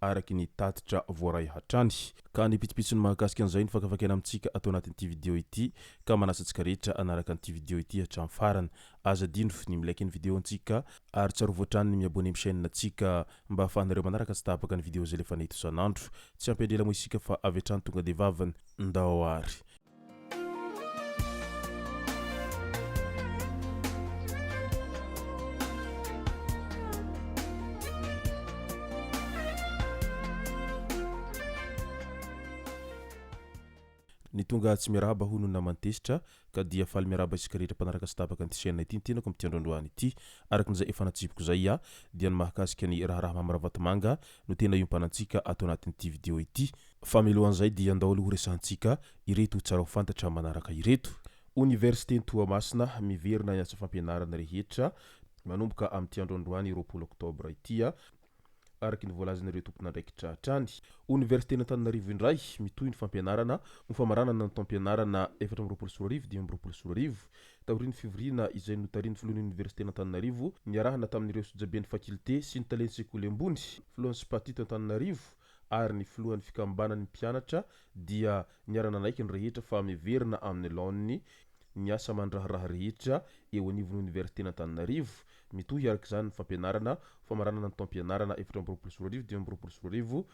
araka ny tatitra voaray hatrany. Ka ny pitsopitsony mahakasika an'izay no fakafakaina amintsika ato anatin'ity video ity, ka manasa antsika rehetra hanaraka an'ity video ity hatramin'ny farany. Aza adino ny mi-like ny video antsika, ary tsarovy hatrany ny mi-abonner amin'ny chaîne antsika, mba ahafahanareo manaraka tsy tapaka ny video izay alefanay tosan'andro. Tsy hampiandry ela moa isika fa avy hatrany tonga dia vavany, ndao ary. Ny tonga tsy miarahaba hono ny naman'ny tezitra ka dia faly miarahaba isika rehetra mpanaraka sy tabaka an'ity chaîne ity ny tenako amin'ity andro androany ity. Araka ny izay efa natsibiko izay aho dia ny mahakasika ny raharaha Mamy Ravatomanga no tena iompanantsika ato anatin'ity video ity fa milohan'izay dia andao aloha horesahantsika ireto tsara ho fantatra manaraka ireto. Oniversiten'i Toamasina miverina ny asa fampianarana rehetra manomboka amin'ity andro androany roapolo oktobra ity araka ny voalazan'ireo tompon'andraikitra hatrany. Oniversiten'Antananarivo indray mitohy ny fampianarana ho famaranana ny taom-pianarana efatra amby roapolo sy roa arivo dimy amby roapolo sy roa arivo Taorian'ny fivoriana izay notarihin'ny Filohan'ny Oniversiten'Antananarivo niarahana tamin'ireo sojaben'ny fakilte sy ny talen'ny sekoly ambony, Filohan'ny Spat eto Antananarivo ary ny Filohan'ny Fikambanan'ny mpianatra dia niara-nanaiky ny rehetra fa miverina amin'ny laoniny ny asa aman-draharaha rehetra eo anivon'ny Oniversiten'Antananarivo, mitohy araka izany ny fampianarana, famaranana ny taom-pianarana efatra amby roapolo sy roa arivo, dimy amby roapolo sy roa arivo,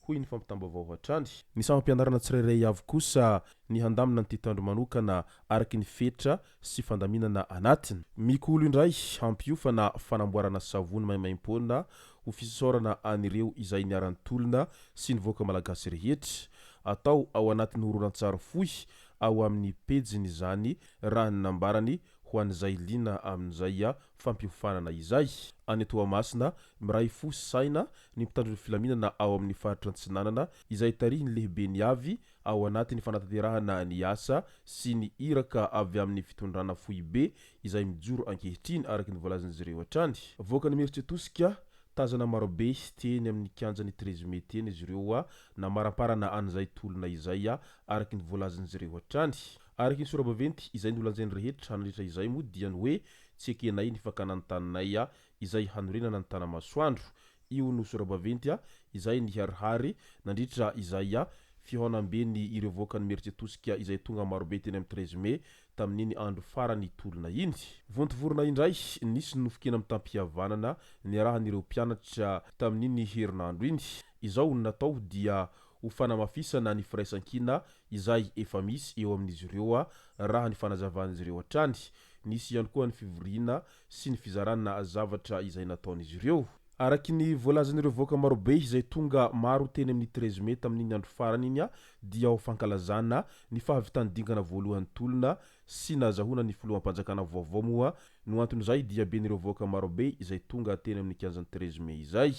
hoy ny fampitam-baovao hatrany. Ny sampam-pianarana tsirairay avy kosa ny handamina ny titandro manokana araky ny fetra sy fandaminana anatiny. Mikolo indray hampiofana fanamboarana savony maimaimpoana ho fisasaorana an'ireo izay niara-nitolona sy ny vahoaka malagasy rehetra. Atao ao anatin'ny horonantsary fohy ao amin'ny pejiny izany raha ny nambarany ho an'izay liana amin'izay fampiofanana izay. Any Toamasina, miray fo sy saina ny mpitandro ny filaminana ao amin'ny faritra Antsinanana izay tarihin'ny lehiben'ny avy Ao anatin'ny fanatanterahana ny asa sy ny iraka avy amin'ny fitondrana foibe izay mijoro ankehitriny araka ny voalazan'izy ireo hatrany. Avoaka ny mieritreritosika, tazana marobe teny amin'ny kianjan'ny treize mai teny izy ireo namaramparana an'izay tolona izay araka ny voalazan'izy ireo hatrany. Araka ny sorabaventy izay nolanjain'ny rehetra nandritra izay moa dia ny hoe tsy ekenay ny fakana ny taninay izay hanorenana ny Tanamasoandro. Io no sora-baventy izay niharihary nandritra izay fihaonamben'ny ireo voakan'ny Merce tosika izay tonga marobe teny amin'ny treize mai tamin'iny andro farany tolona iny. Vontovorona indray, nisy ny nofon-kena mitam-pihavanana niarahan'ireo mpianatra tamin'iny herinandro iny. Izao no natao dia ho fanamafisana ny firaisan-kina izay efa misy eo amin'izy ireo, raha ny fanazavan'izy ireo hatrany. Nisy ihany koa ny fivoriana sy ny fizarana zavatra izay nataon'izy ireo. Araky ny voalazan'ireo vahoaka marobe izay tonga maro teny amin'ny treize mai tamin'iny andro farany iny dia ho fankalazana ny fahavitan'ny dingana voalohany tolona sy nazahoana ny filoham-panjakana vaovao moa no anton'izay diaben'ireo vahoaka marobe izay tonga teny amin'ny kianjan'ny treize mai izay.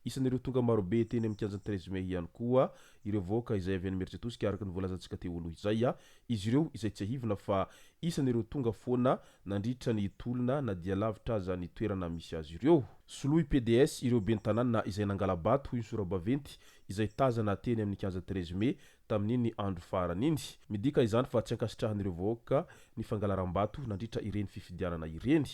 Isan'ireo tonga marobe teny amin'ny kianjan'ny treize mai ihany koa ireo vahoaka izay avy any Imeritsiatosika araka ny voalazantsika teo aloha izay. Izy ireo izay tsiahivina fa isan'ireo tonga foana nandritra ny tolona na dia lavitra aza ny toerana misy azy ireo. Soloy PDS ireo ben'ny tanàna izay nangala-bato hoy ny sora-baventy izay tazana teny amin'ny kianja treize mai tamin'iny andro farany iny. Midika izany fa tsy ankasitrahan'ireo vahoaka ny fangalaram-bato nandritra ireny fifidianana ireny.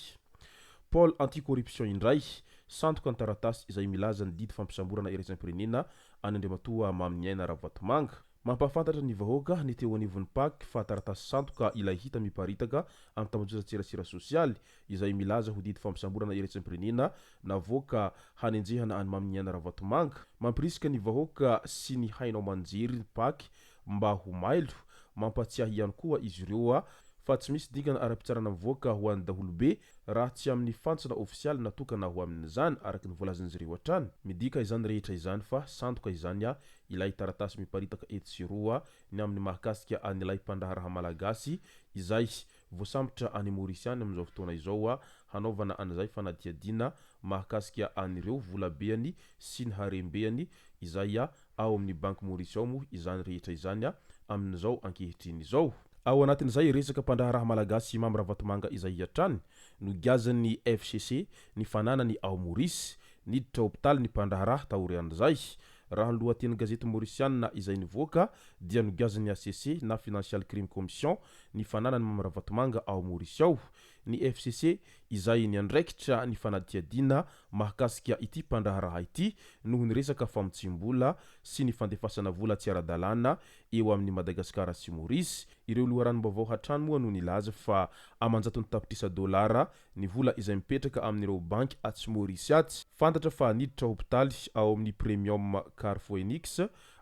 Pôle anti-corruption indray, sandoka ny taratasy izay milaza ny didy fampisamborana iraisam-pirenena an'i Andriamatoa Maminiaina Ravatomanga. Mampahafantatra ny vahoaka ny teo anivon'ny pac fa taratasy sandoka ilay hita miparitaka amin'ny tambajotran-tserasera sosialy, izay milaza ho didy fampisamborana eretsim-pirenena navoaka hanenjehana an'i Maminiaina Ravatomanga, mampirisika ny vahoaka sy ny haino aman-jery ny Pac mba ho mailo, mampatsiahy ihany koa izy ireo fa tsy misy dingana ara-pitsarana mivoaka ho an'ny daholobe raha tsy amin'ny fantsona ofisialy natokana ho amin'izany, araka ny voalazan'izy ireo hatrany. Midika izany rehetra izany fa sandoka izany ilay taratasy miparitaka etsy sy eroa ny amin'ny mahakasika an'ilay mpandraharaha malagasy izay Voasambotra any Maurice any amin'izao fotoana izao hanaovana an'izay fanadihadiana mahakasika an'ireo volabeany sy ny harembeany izay ao amin'ny banky Maurice ao moa izany rehetra izany amin'izao ankehitriny izao. Ao anatin'izay resaka mpandraharaha malagasy Mamy Ravatomanga izay hatrany nogiazan'ny FCC ny fananany ao Maurice, niditra hopitaly ny mpandraharaha taorian'izay Raha ny lohatenin-gazety Maorisianina izay nivoaka dia nogiazin'ny hcc na Financial Crime Commission ny fananan'i Mamy Ravatomanga ao Maorisy ao ny fcc izay niandraikitra ny fanadihadiana mahakasika ity mpandraharaha ity noho ny resaka famotsiam-bola sy ny fandefasana vola tsy ara-dalàna eo amin'i Madagasikara sy Maorisy. Ireo loharanom-baovao hatrany moa no nilaza fa aman-jatony tapitrisa dolara Ny vola izay mipetraka amin'ireo banky atsy Maurice atsy, fantatra fa niditra hopitaly ao amin'ny Premium Car Phoenix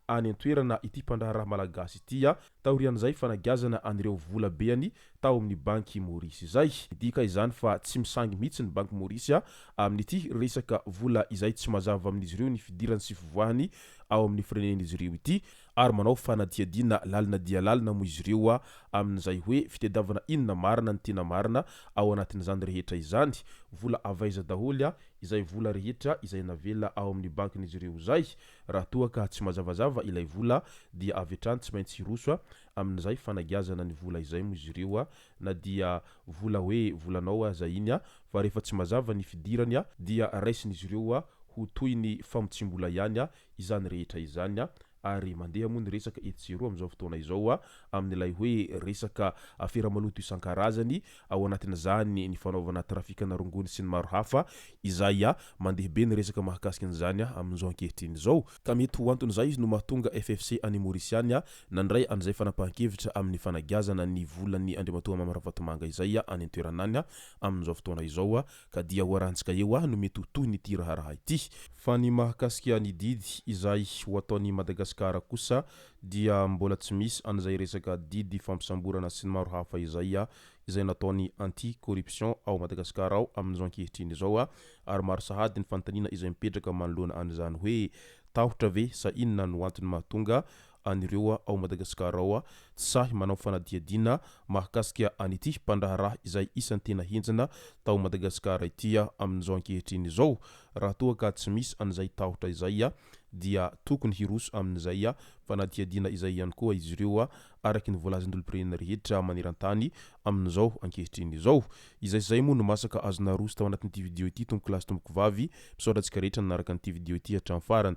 any an-toerana ity mpandraharaha malagasy ity taorian'izay fanagiazana an'ireo vola beany tao amin'ny banky Maurice izay. Midika izany fa tsy misangy mihitsy ny banky Maurice amin'ity resaka vola izay tsy mazava amin'izy ireo ny fidirany sy fivoahany ao amin'ny firenen'izy ireo ity. ary manao fanadihadiana lalina dia lalina moa izy ireo amin'izay hoe fitadiavana inona marina ny tena marina ao anatin'izany rehetra izany, vola avy aiza daholo izay vola rehetra izay navela ao amin'ny bankin'izy ireo izay, raha toa ka tsy mazavazava ilay vola dia avy hatrany tsy maintsy hiroso amin'izay fanagiazana ny vola izay moa izy ireo na dia vola hoe volanao aza iny fa rehefa tsy mazava ny fidirany dia raisin'izy ireo ho toy ny famotsim-bola ihany izany rehetra izany a! ary mandeha moa ny resaka etsy sy eroa amin'izao fotoana izao a! amin'ilay hoe resaka afera maloto isan-karazany, ao anatin'izany ny fanaovana trafikana rongony sy ny maro hafa, izay a! mandeha be ny resaka mahakasika an'izany a! amin'izao ankehitriny izao. Ka mety ho anton'izay no mahatonga FFC any Maurice any a! nandray an'izay fanapahan-kevitra amin'ny fanagiazana ny volan'ny Andriamatoa Mamy Ravatomanga izay a! any an-toerana any a! amin'izao fotoana izao a! Ka dia ho arantsika eo aho no mety ho tohiny ity raharaha ity. Fa ny mahakasika ny didy izay ho ataon'i Madagasikara kosa dia mbola tsy misy an'izay resaka didy fampisamborana sy ny maro hafa izay izay nataon'ny Anti corruption ao Madagasikara ao amin'izao ankehitriny izao ary maro sahady ny fanontaniana izay mipetraka manoloana an'izany hoe tahotra ve sa inona no antony mahatonga an'ireo ao Madagasikara ao tsy sahy manao fanadihadiana mahakasika an'ity mpandraharaha izay isan'ny tena henjana tao Madagasikara ity amin'izao ankehitriny izao. Raha toa ka tsy misy an'izay tahotra izay dia tokony hiroso amin'izay fanadihadiana izay ihany koa izy ireo araka ny voalazan'ny olom-pirenena rehetra maneran-tany amin'izao ankehitriny izao. Izay sy izay moa no masaka azo naroso tao anatin'ity video ity Tompokolahy sy Tompokovavy. Misaotra antsika rehetra nanaraka an'ity video ity hatramin'ny farany.